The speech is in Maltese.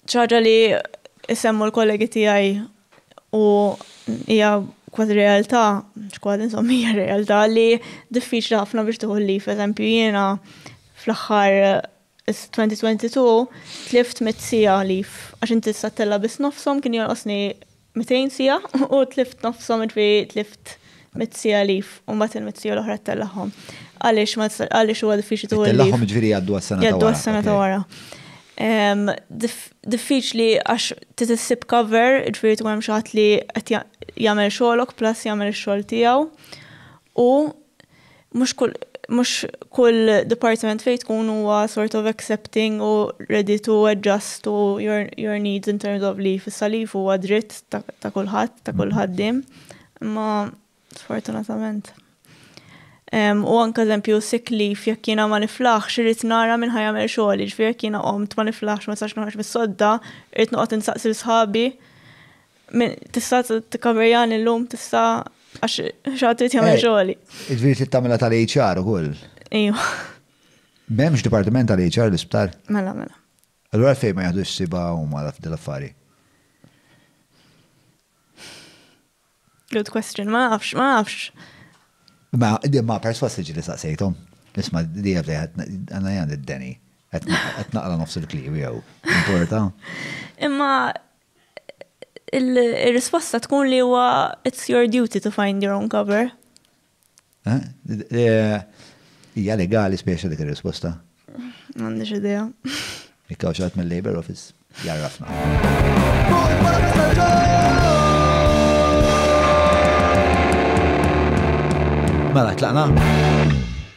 Xi ħaġa li semmu l-kollegi tiegħi u hija kważi realtà, kważi insomma hija realtà li diffiċli ħafna biex tieħu l-lif. Eżempju jiena fl-aħħar 2022 tlift mit sija lif għax inti s-sattella biss nofshom kien jonqosni 200 siegħa u tlift nofshom ġifieri tlift mitt siegħa leave u mbagħad il-mitt siegħa l-oħra ttellagħhom. Għaliex ma tistax għaliex huwa diffiċli tuħu l-leave? Ttellagħhom ġifieri jgħaddu għas-sena ta' wara. Jgħaddu għas-sena ta' wara. Diffiċli għax trid issib cover, ġifieri tkun hemm xi ħadd li qed jagħmel xogħlok plus jagħmel ix-xogħol tiegħu u mhux kull mhux kull departiment fejn tkun huwa sort of accepting u ready to adjust to your, your needs in terms of leave. Issa leave huwa dritt ta', ta kulħadd, ta' kull ħaddiem, imma sfortunatament. Um, u anka eżempju sick leave jekk jiena ma niflaħx irid nara minn ħajamel xogħol, ġifier jekk jiena qomt ma niflaħx ma sax noħroġ mis-sodda, irid noqgħod insaqsi sħabi Tista' tikkaverjan illum, tista' għax xaħat trid jagħmel eh, xogħli. Iġifieri trid tagħmilha tal-HR ukoll. Ejwa. M'hemmx dipartiment tal-HR l-isptar? Mela, mela. Allura fejn ma jaħdux siba huma l-affari. Good question, ma nafx, ma nafx. Ma, ma perswas li ġili saqsejtom. Nisma di għabdi għanna jgħan id-deni. Għetnaqla nofs il-klib jgħu. Importa. Imma Ir-risposta tkun li huwa it's your duty to find your own cover. Hija legali speċi dik ir-risposta? M'għandix idea. Ikkaw xatt mill-Labor Office jarrafna. Mela, tlaqna?